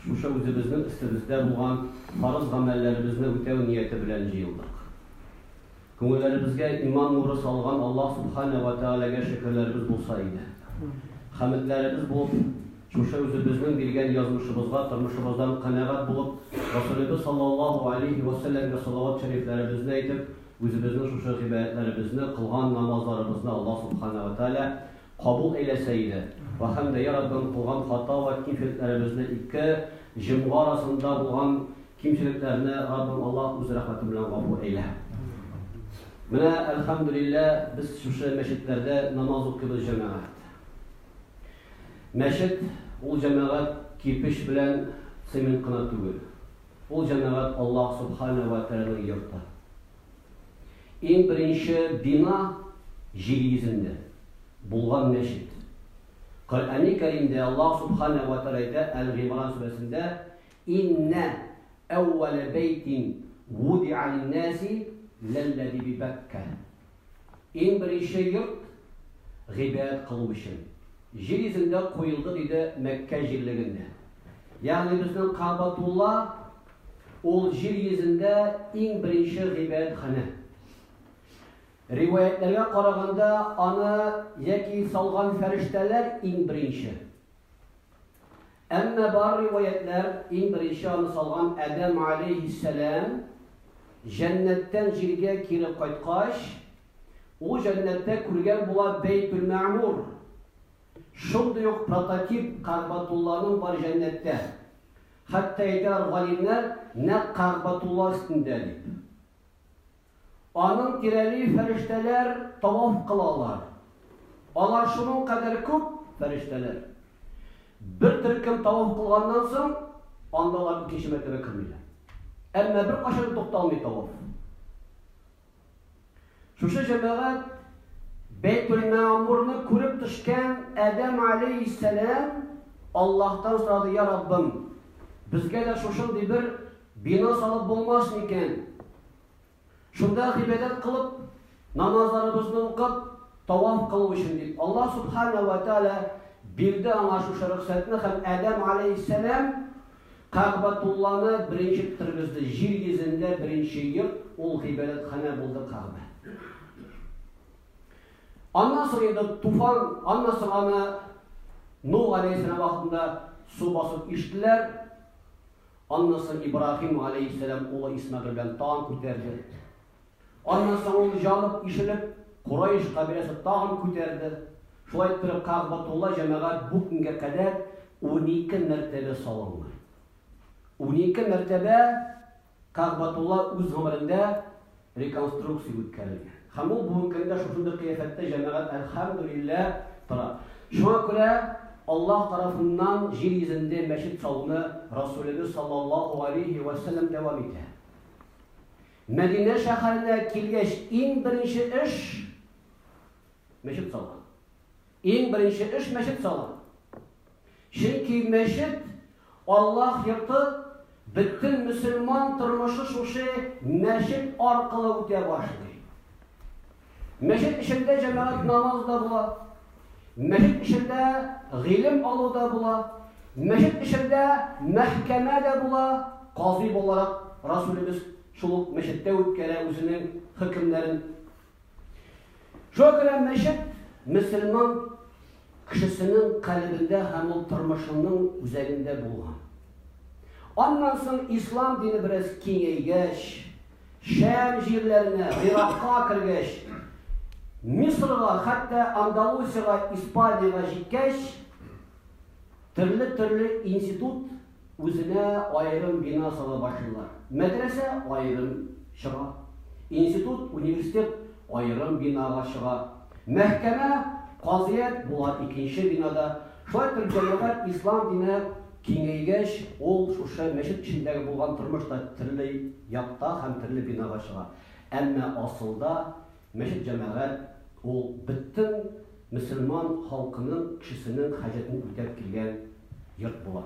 Шушы үзебезнең өстебездә булган фарыз гамәлләребезне үтәү нияте белән җыелдык. Күңелләребезгә иман нуры салган Аллаһ Сүбхәнә вә Тәгаләгә шөкерләребез булса иде. Хәмедләребез булып, шушы үзебезнең биргән язмышыбызга тормышыбыздан канәгать булып, Расулебез саллаллаһу галәйһи вә сәлләмгә салават шәрифләребезне әйтеп, үзебезнең шушы гыйбадәтләребезне, кылган намазларыбызны Аллаһ Сүбхәнә вә Тәгалә кабул әйләсә иде. Вә һәм дә, йә Раббым, кылган хата вә кимчелекләребезне ике җомга арасында булган кимчелекләрне, Раббым Аллаһ, үз рәхмәтең белән гафу әйлә. Менә, әлхәмдүлилләһ, без шушы мәчетләрдә намаз укыйбыз җәмәгать. Мәчет, ул җәмәгать кирпеч белән цемент кына түгел. Ул җәмәгать Аллаһ Субханәһү вә тәгаләнең йорты. Иң беренче бина җир йөзендә булган мәчет. Коръәни Кәримдә Аллаһ Сүбхәнәһү вә Тәгалә әйтә, Әл-Гыймран сүрәсендә, Иннә әүвәлә бәйтин вудиа лин-нәси ләлләзи би-Бәккә. Иң беренче йорт гыйбадәт кылу өчен җир йөзендә куелды, диде Мәккә җирлегендә. Ягъни безнең Кәгъбәтулла. Ул җир йөзендә иң беренче гыйбадәтханә. Риваятьләргә караганда, аны яки салган фәрештәләр иң беренче. Әмма бар риваятьләр иң беренче аны салган Адәм алейһиссәлам җәннәттән җиргә кире кайткач, ул җәннәттә күргән була Бәйтүл-Мәгъмур. Шундый ук прототип Кәгъбатулланың бар җәннәттә. Хәтта әйтәләр галимнәр, нәкъ Кәгъбәтулла өстендә дип. Аның тирәли фәрештәләр таваф кылалар. Алар шуның кадәр күп, фәрештәләр. Бер төркем таваф кылганнан соң, анда алар икенче мәртәбә кермиләр. Әмма беркайчан да тукталмый таваф. Шушы җәмәгать Бәйтелмәгъмурны күреп төшкән Адәм алейһиссәлам Аллаһтан сорады, "Я Раббым, безгә дә шушындый бер бина салып булмас микән? Шунда гыйбадәт кылып, намазларыбызны укып, таваф кылу өчен" дип. Аллаһ субхана ва тааля бирде аңа шушы рөхсәтне һәм Адәм алейһиссәлам Кәгъбәтулланы беренче тергезде, җир йөзендә беренче йорт, ул гыйбадәтханә булды Кәгъбә. Аннан соң инде туфан, аннан соң аны Нух алейхиссалам вакытында су басып иштеләр. Аннан соң Ибраһим алейхиссалам улы Исмәгыйль белән тагын күтәрде. Аннан соң ул җанып, ишелеп, Курайш кабиләсе тагын күтәрде. Шулай иттереп, Кәгъбәтулла җәмәгать бу көнгә кадәр унике мәртәбә салынган. Унике мәртәбә Кәгъбәтулла үз гомерендә реконструкция үткәрелгән. Һәм ул бүгенге көндә шушындый кыяфәттә җәмәгать әлхәмдүлиллә тора. Шуңа күрә Аллаһ тарафыннан җир йөзендә мәчет салуны Расулебез саллаллаһу галәйһи вә сәлләм дәвам итә. Мәдинә шәһәренә килгәч иң беренче эш мәчет салган. Иң беренче эш мәчет салган. Чөнки мәчет Аллаһ йорты бөтен мөселман тормышы шушы мәчет аркылы үтә башлый. Мәчет эчендә җәмәгать намазы да була. Мәчет эчендә гыйлем алу да була. Мәчет эчендә мәхкәмә дә була. Казый буларак Расулебез шул ук мәчеттә үткәрә үзенең хөкемнәрен. Шуңа күрә мәчет мөселман кешесенең калебендә һәм ул тормышының үзәгендә булган. Аннан соң ислам дине бераз киңәйгәч, Шәм җирләренә, Гыйракка кергәч, Мисырга, хәтта Андалусиягә, Испаниягә җиткәч, төрле-төрле институт үзенә аерым бина сала башлыйлар. Мәдрәсә аерым чыга, институт, университет аерым бинага чыга, мәхкәмә, казыят була икенче бинада. Шулай итеп, җәмәгать ислам дине киңәйгәч, ул шушы мәчет эчендәге булган тормыш та төрле якта һәм төрле бинага чыга. Әмма асылда мәчет-җәмәгать ул бөтен мөселман халкының, кешесенең хаҗәтен үтәп килгән йорт була.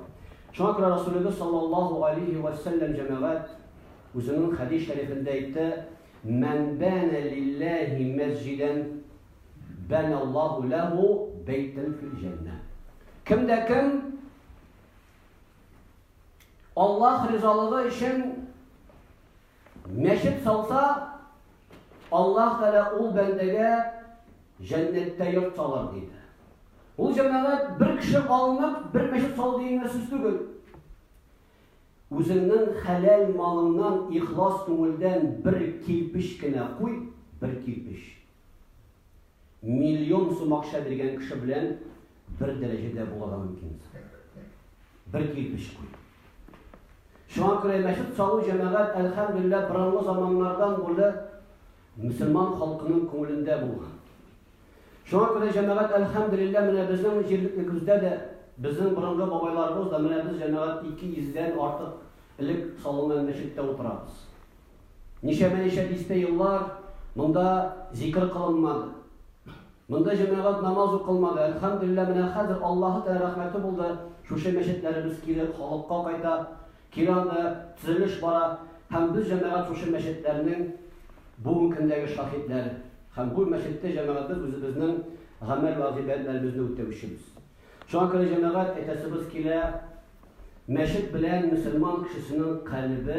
Шуңа күрә Расулебез саллаллаһу алейһи вә сәлләм җәмәгать үзенең хәдис шәрифендә әйтте, Мән бәнә лилләһи мәсҗидән, Бәнә Аллаһу ләһу бәйтән фил җәннә. Кем дә кем Аллаһ ризалыгы өчен мәчет салса, Аллаһ Тәгалә ул бәндәгә җәннәттә йорт салыр диде. Ул җәмәгать бер кеше алынып, бер мәчет сал дигән сүз түгел. Үзеңнең хәләл малыңнан ихлас күңелдән бер килпеш кенә куй, бер килпеш. Миллион сум акча биргән кеше белән бер дәрәҗәдә булырга мөмкин. Бер кирпеч куй. Шуңа күрә мәчет салу җәмәгать әлхәмдулилла борынгы заманнардан бүле мөселман халкының күңелендә булган. Шуңа күрә җәмәгать әлхәмдулилла менә безнең җирлеклегебездә дә безнең борынгы бабайларыбыз да менә без җәмәгать 200 дән артык элек салынган мәчеттә утырабыз. Ничәмә-ничә дистә еллар монда зикер кылынмады. Монда җәмәгать намаз укылмады. Әлхәмдүлилләһ, менә хәзер Аллаһы Тәгалә рәхмәте булды, шушы мәчетләребез кире халыкка кайта, кире анда төзелеш бара. Һәм без, җәмәгать, шушы мәчетләрнең бүген көндәге шаһитләре. Һәм бу мәчеттә, җәмәгать, без үзебезнең гамәл вә гыйбадәтләребезне үтәүчебез. Шуңа күрә, җәмәгать, әйтәсебез килә, мәчет белән мөселман кешесенең калебе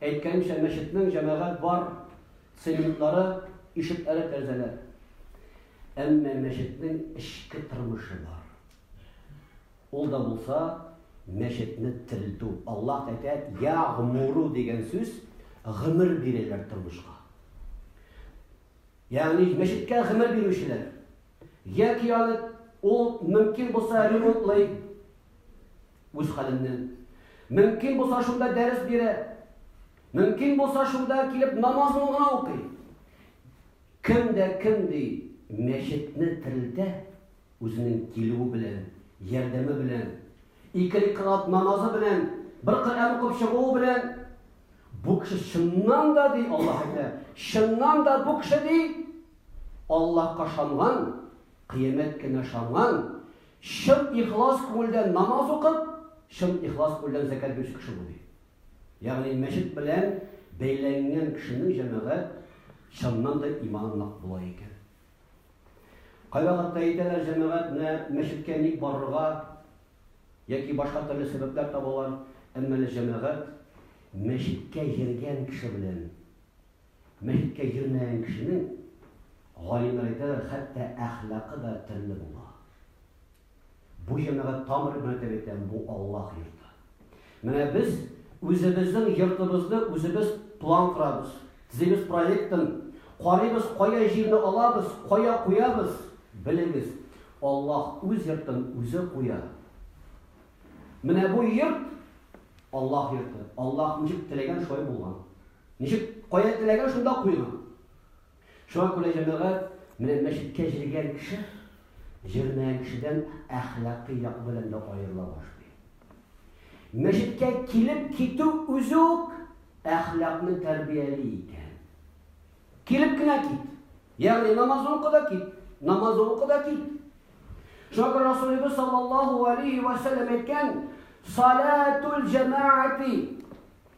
Әйткәнемчә, мәчетнең җәмәгать бар цементлары, ишекләре, тәрәзәләр. Әмма мәчетнең эчке тормышы бар. Ул да булса, мәчетне терелтү. Аллаһ әйтә, ягъмуру дигән сүз, гомер бирәләр тормышка. Ягъни мәчеткә гомер бирүчеләр, яки аны ул мөмкин булса ремонтлый үз хәленнән. Мөмкин булса шунда дәрес бирә. Мөмкин булса шунда килеп намазын гына укый. Кем дә кем ди мәчетне терелтә үзенең килүе белән, ярдәме белән, ике рикалат намазы белән, бер Коръән укып чыгуы белән Бу кеше чыннан да, ди Аллаһ әйтә, чыннан да бу кеше, ди, Аллаһка шанган, кыямәт кенә шанган, чын ихлас күңелдән намаз укып, чын ихлас күңелдән зәкәт бирүче кеше бу, ди. Ягъни мәчет белән бәйләнгән кешенең җәмәгать чыннан да иманы нык була икән. Кайвакытта әйтәләр җәмәгать менә мәчеткә ник барырга, яки башка төрле сәбәпләр табалар, әмма әле җәмәгать мәчеткә йөргән кеше белән мәчеткә йөрмәгән кешенең, галимнәр әйтәләр, хәтта әхлакы да төрле була. Бу җәмәгать тамыр гына әйтәм, бу Аллаһ йорты. Менә без үзебезнең йортыбызны үзебез план корабыз, төзибез проектын, карыйбыз, кая җирне алабыз, кая куябыз. Белегез, Аллаһ үз йортын үзе куя. Менә бу йорт Аллаһ йорты. Аллаһ ничек теләгән шулай булган. Ничек кая теләгән шунда куйган. Шуңа күрә җәмәгать менә мәчеткә җиргән кеше җирмәгән кешедән әхлакый як белән дә аерыла башлый. Мәчеткә килеп китү үзе үк әхлакны тәрбияли икән. Килеп кенә кит. Ягъни намазны укы да кит. Намазны укы да кит. Шуңа күрә Расулыбыз саллаллаху алейхи ва саллям әйткән, "Салатул җамаати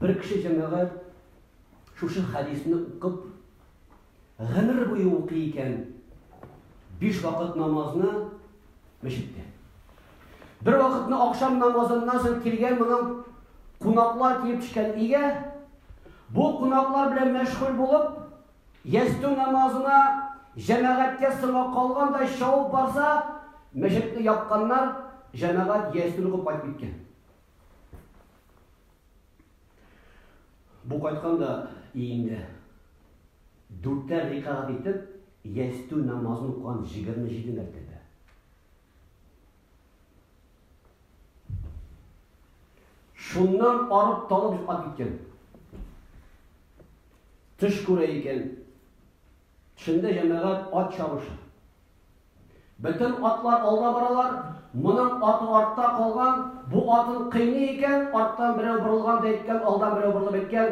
Бер кеше, җәмәгать, шушы хәдисне укып, гомер буе укый икән, биш вакыт намазны мәчеттә. Бер вакытны акшам намазыннан соң килгән моның кунаклар килеп төшкән өйгә, бу кунаклар белән мәшгуль булып, ястү намазына җәмәгатькә соңга калгандай шауып барса, мәчетне япканнар, җәмәгать ястүне куып кайтып киткән. Бу кайткан да иенде. Дүртәр рикагат итеп, ястү намазын укыган 27 мәртәбә. Шуннан арып талып йоклап киткән. Төш күрә икән, Төшендә җәмәгать ат чабыша. Бөтен атлар алда баралар, моның аты артта калган, бу атын кыйный икән, арттан берәү борылган да әйткән, алдан берәү борылып әйткән,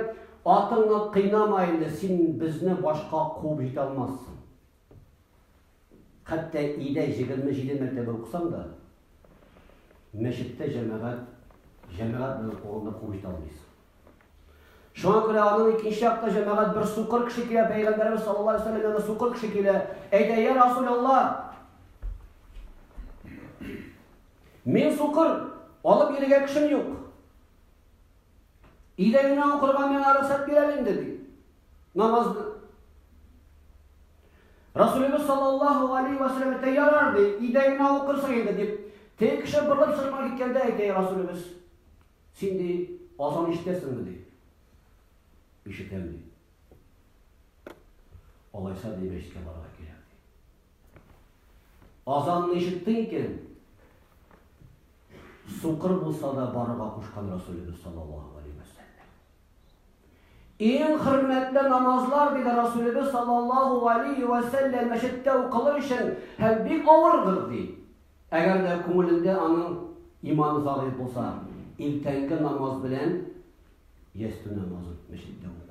атыңны кыйнама инде, син безне башка куып җитә алмассың. Хәтта өйдә 27 мәртәбә укысаң да, мәчеттә җәмәгать, җәмәгать белән куганда куып җитә алмыйсың. Шуңа күрә аның икенче якта җәмәгать бер сукыр кеше килә, пәйгамбәрбез саллаллаһу алейһи ва сәлләм янына сукыр кеше килә. Әйтә, "Я Расулуллаһ, мин сукыр, алып йөрергә кешем юк. Идәненә укырга миңа рөхсәт бир әле инде", ди. Намазны. Расулыбыз саллаллаһу алейһи ва сәлләм әйтә, "Ярар", ди, "идәненә укырсың инде", дип. Теге кеше борылып чыгып киткәндә әйтә, "Расулыбыз, Син, ди, азан ишетәсеңме? ди. Ишетәм, ди. Алайса, ди, мәчеткә барырга кирәк, ди. Азанны ишеттең икән, сукыр булса да барырга кушкан Расулебез саллаллаһу алейһи вә сәлләм. Иң хөрмәтле намазлар, диде Расүлебез саллаллаһу галәйһи вә сәлләм, мәчеттә укылыр өчен һәм бик авырдыр, ди. Әгәр дә күңелендә аның иманы зәгыйфь булса, иртәнге намаз белән ястү намазын мәчеттә уку.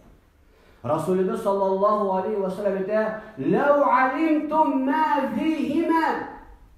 Расүлебез саллаллаһу галәйһи вә сәлләм әйтә, "Ләү алимтум ма фихима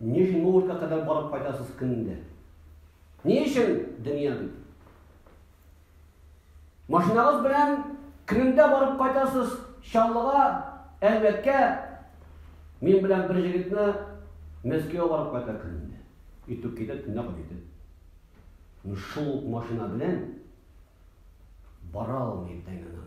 Нижний Новгородка кадәр барып кайтасыз көнендә. Ни өчен дөнья бит? Машинагыз белән көнендә барып кайтасыз Чаллыга, Әлмәткә. Мин белән бер җегетне Мәскәүгә барып кайта көнендә. Итүк китә, төнлә кайтып. Ну шул машина белән бара алмый тәңгәләмә.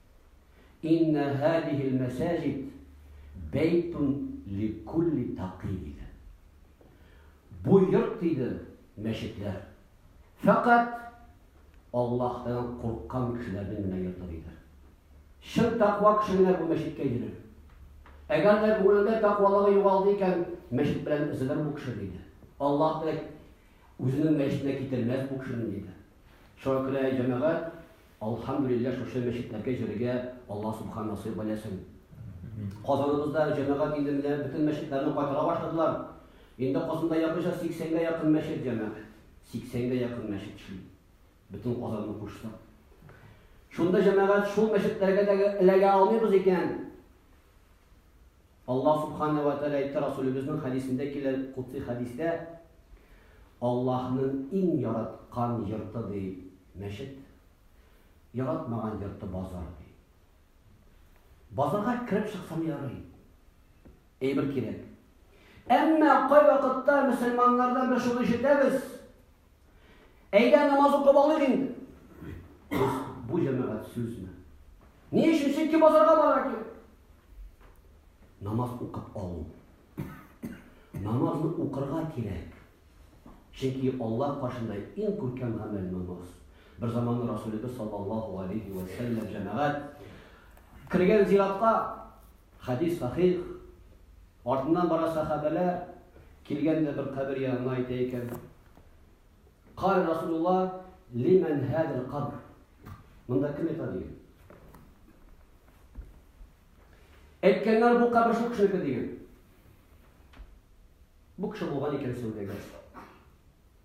Инна һадихил мәсаҗид бәйтун ликулли такый диде. Бу йорт диде мәчетләр. Фәкать Аллаһтан курккан кешеләрнең генә йорты диде. Чын таква кеше генә бу мәчеткә йөрер. Әгәр дә күңелендә тәкъвалыгы югалды икән, мәчет белән өзелер бу кеше диде. Аллаһ да үзенең мәчетенә китермәс бу кешене диде. Шуңа күрә җәмәгать Алхамдулилләһ шушы мәчетләргә йөрергә Алла субхан насыйп айләсен. Казаныбызда җәмәгать инде менә бөтен мәчетләрне кайтара башладылар. Инде Казанда якынча 80 гә якын мәчет җәмәгать. 80 гә якын мәчет шул. Бөтен Казанны кушса. Шунда җәмәгать шул мәчетләргә дә эләгә алмыйбыз икән. Аллаһ Субхана ва Тәгалә әйтте, Расулебезнең хәдисендә килә, кутси хәдистә, Аллаһның иң яраткан йорты ди мәчет, яратмаган йорты базар ди. Базарга кереп чыксам ярый. Әйбер кирәк. Әмма кайвакытта мөселманнардан без шуны ишетәбез, Әйдә, намаз укып алыйк инде. Бу җәмәгать сүзме? Ни өчен синки базарга бара ки? Намаз укып алу. Намазны укырга кирәк. Чөнки Алла каршында иң күркәм гамәл намаз. Бер заман Расулыбыз саллаллаһу алейхи ва саллям җәмәгать кергән зиратка Хәдис сахих. Артыннан бара сәхабәләр, килгән дә бер кабер янына әйтә икән. Кар Расулулла лимән хәдер кабр. Монда кем ята диген. Әйткәннәр бу кабер шул кешенеке диген. Бу кеше булган икән сәүдәгәр.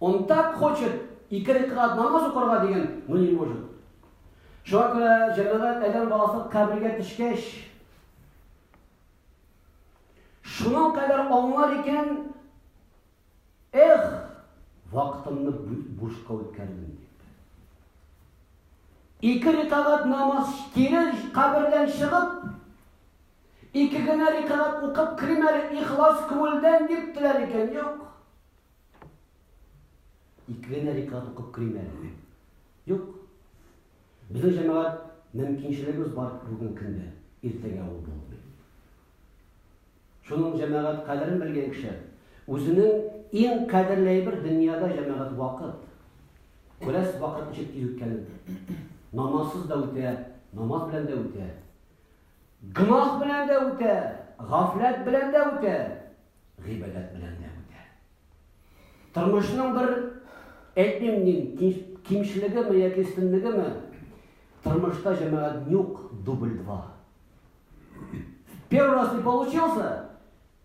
Он так хочет ике рикъат намаз укырга дигән, но не может. Шуңа күрә җәмәгать әдәм баласы кабергә төшкәч, шуның кадәр аңлар икән, эх, вакытымны бушка үткәрдем дип. Ике рикагат намаз кире кабердән чыгып, Ике генә рикәгать укып керим әле ихлас күңелдән дип теләр икән, юк. Ике генә рикәгать укып керим әле. Юк. Безнең җәмәгать мөмкинчелегебез бар бүген көндә, иртәгә ул булмый. Шуның җәмәгать кадерен белгән кеше үзенең иң кадерле әйбер дөньяда җәмәгать вакыт. Күрәс вакыт ничек тиз үткәнен. Намазсыз да үтә, намаз белән дә үтә. Гөнаһ белән дә үтә, гафләт белән дә үтә, гыйбадәт белән дә үтә. Тормышның бер әйтмим нинди кимчелегеме яки өстенлегеме? Тормышта җәмәгать нюк дубль 2. Первый раз не получился,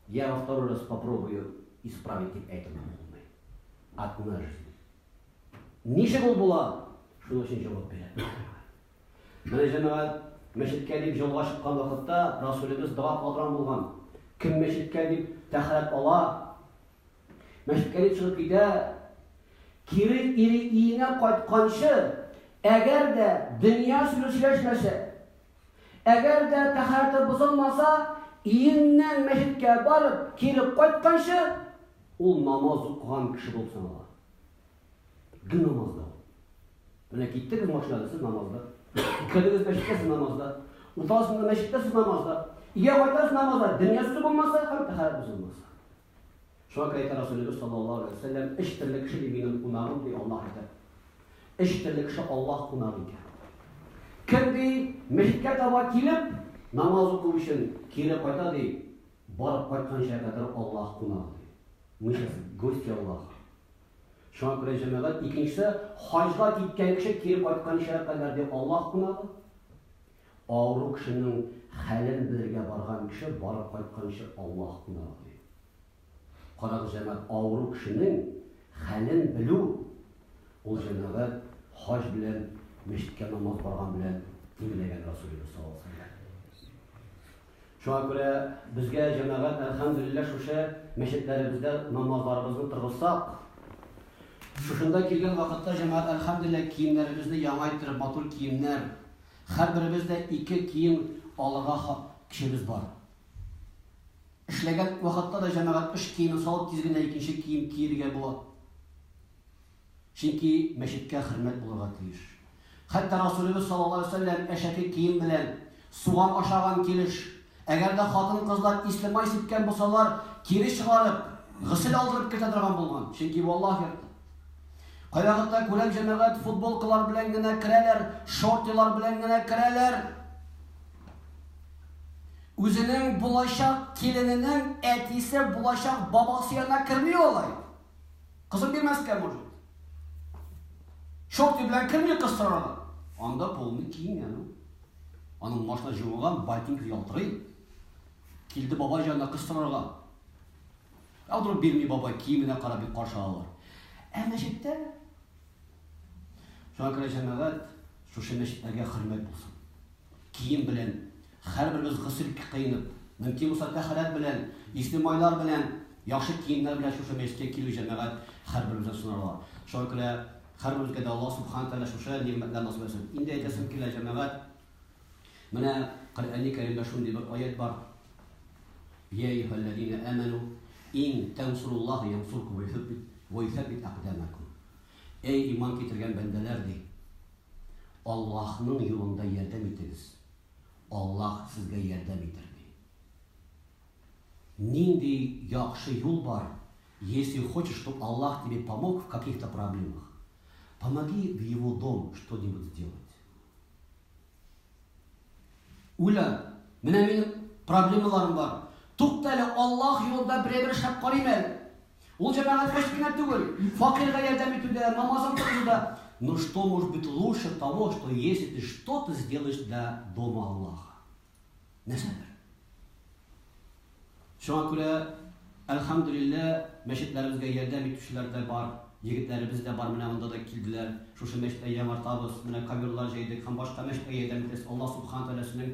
я во второй раз попробую исправить дип әйтүне булмый. Одна жизнь. Ничек ул була? Шуның өчен җавап бирә. Менә җәмәгать мәчеткә дип җолга чыккан вакытта Расулебез дога кылдырган булган. Кем мәчеткә дип тәһарәт ала, мәчеткә дип чыгып китә, кире ире иенә кайтканчы, әгәр дә дөнья сүзе сөйләшмәсә, әгәр дә тәһарәте бозылмаса, иеннән мәчеткә барып, кире кайтканчы ул намаз укыган кеше булып санала. Ге намазда. Менә киттегез машинада, сез намазда. Үткәдегез мәчеткә, сез намазда. Утасында мәчеткә, сез намазда. Ия кайтасыз намазда. Дөнья сүзе булмаса, һәм тәхәрәт сүзе булмаса. Шуңа күрә әйтә Расулебез саллаллаху алейхи вәсәлләм, эш төрле кеше ди минем кунагым ди Аллаһ әйтә. Эш төрле кеше Аллаһ кунагы икән. Кем ди, мәчеткә таба килеп, намаз уку өчен кире кайта ди, барып кайтканча кадәр Аллаһ кунагы ди. Мы сейчас гости Аллаха. Шуңа күрә, җәмәгать, икенчесе хаҗга киткән кеше кире кайтканча кадәр ди Аллаһ кунагы. Авыру кешенең хәлен белергә барган кеше барып кайтканчы Аллаһ кунагы ди. Карагыз, җәмәгать, авыру кешенең хәлен белү ул җәмәгать хаҗ белән мәчеткә намаз барган белән тиңләгән Расулебез саллаллаһу алейһи ва сәлләм. Шуңа күрә безгә җәмәгать әлхәмдүлилләһ шушы мәчетләребездә намазларыбызны торгызсак, шушында килгән вакытта җәмәгать әлхәмдүлилләһ киемнәребезне яңайтырып, матур киемнәр, һәрберебез дә ике кием алырга хак көчебез бар. Эшләгән вакытта да җәмәгать эш киемен салып тиз генә икенче кием киерергә була. Чөнки мәчеткә хөрмәт булырга тиеш. Хәтта Расулебез саллаллаһу галәйһи вә сәлләм әшәке кием белән, суган ашаган килеш, әгәр дә хатын-кызлар исле май сипкән булсалар, кире чыгарып, госел алдырып кертә торган булган, чөнки бу Аллаһ йорты. Кайвакытта күрәм, җәмәгать футболкалар белән генә керәләр, шортилар белән генә керәләр. Үзенең булачак килененең әтисе, булачак бабасы янына керми алай. Кызып бирмәскә может. Шорты белән керми кыз сорарга. Анда полны киң аны. Аның машина җылыган, ботинка ялтырый. Килде бабай җанына кыз сорарга. Алдырып бирми бабай, киеменә карап бик каршы алалар. Ә мәчеттә Шуңа күрә җәмәгать шушы мәчетләргә хөрмәт булсын. Кием белән Һәрберебез гөсел кыенып, мөмкин булса тәһарәт белән, исле майлар белән, яхшы киемнәр белән шушы мәчеткә килү җәмәгать һәрберебездән сорала. Шуңа күрә һәрберебезгә дә Аллаһ Субхана Тәгалә шушы нигъмәтләр насыйп итсен. Инде әйтәсем килә, җәмәгать, менә Коръәни Кәримдә шундый бер аять бар, Йә әйюһәлләзина әмәну, ин тәнсуруллаһа янсуркум вә йөсәббит әкъдәмәкум. Әй иман китергән бәндәләр, ди, Аллаһның юлында ярдәм итегез, Аллаһ сезгә ярдәм итер, ди. Нинди яхшы юл бар, если хочешь, чтоб Аллаһ тебе помог в каких-то проблемах, помоги в его дом что-нибудь сделать. Уля, менә минем проблемаларым бар. Тукта әле, Аллаһ юлында берәй бер шәп карыйм әле. Ул җәмәгатькә үзе генә түгел, факирга ярдәм итүдә, намазын кылуда, но что может быть лучше того, что если ты что-то сделаешь для дома Аллаха. Нәрсәдер. Шуңа күрә, әлхәмдүлиллә, мәчетләребезгә ярдәм итүчеләр дә бар, егетләребез дә бар, менә монда да килделәр. Шушы мәчеткә яңартабыз, менә коверлар җәйдек һәм башка мәчеткә ярдәм итәбез. Аллаһ Субхана Тәгаләсенең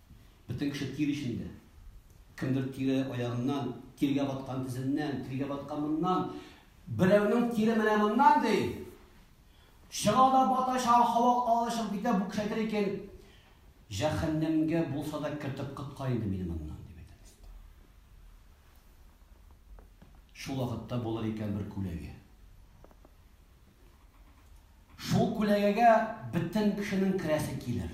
Бөтен кеше тир эчендә. Кемдер тире аягыннан, тиргә баткан тезеннән, тиргә баткан моннан. Берәүнең тире менә моннан, ди. Чыга да бата, чага һава алышып китә, бу кеше әйтер икән, Җәһәннәмгә булса да кертеп коткар инде мине моннан. Шул вакытта булыр икән бер күләгә. Шул күләгәгә бөтен кешенең керәсе килер.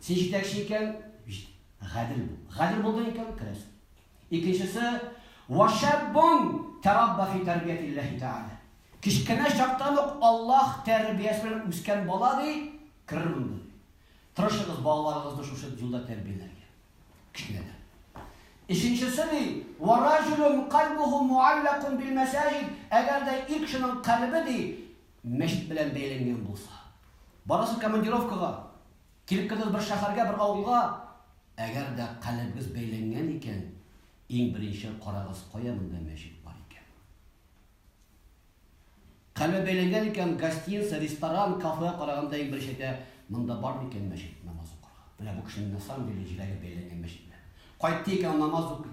Син җитәкче икән, җит. Гадел бул. Гадел булдың икән, керәсең. Икенчесе, Вашаббун тарабба фи тәрбиятилләһи тәгалә. Кечкенә чактан ук Аллаһ тәрбиясе белән үскән бала, ди, керер монда. Тырышыгыз балаларыгызны шушы юлда тәрбияләргә. Кечкенәдән. Өченчесе, ди, Вараҗулун кальбуху муаллакун бил мәсаҗид. Әгәр дә ир кешенең кальбе, ди, мәчет белән бәйләнгән булса. Барасы командировкага, килеп кердегез бер шәһәргә, бер авылга, әгәр дә калебегез бәйләнгән икән, иң беренче карагыз, кая монда мәчет бар икән. Калебе бәйләнгән икән, гостиница, ресторан, кафе караганда иң беренче әйтә, монда бар микән мәчет намаз укырга. Менә бу кешенең на самом деле җиләге бәйләнгән мәчет белән. Кайтты икән намаз укый.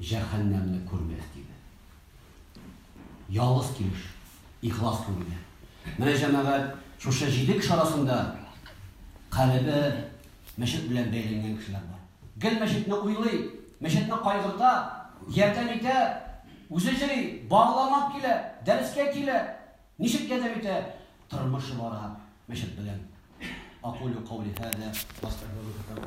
Җәһәннәмне күрмәс диде. Ялгыз килеш, ихлас күңелле. Менә, җәмәгать, шушы җиде кеше арасында калебе мәчет белән бәйләнгән кешеләр бар. Гел мәчетне уйлый, мәчетне кайгырта, ярдәм итә, үзе җыри, багланып килә, дәрескә килә. Ничек ярдәм итә? Тормышы бара мәчет белән. Акулю каули һада, ва астәгъфируллаһ.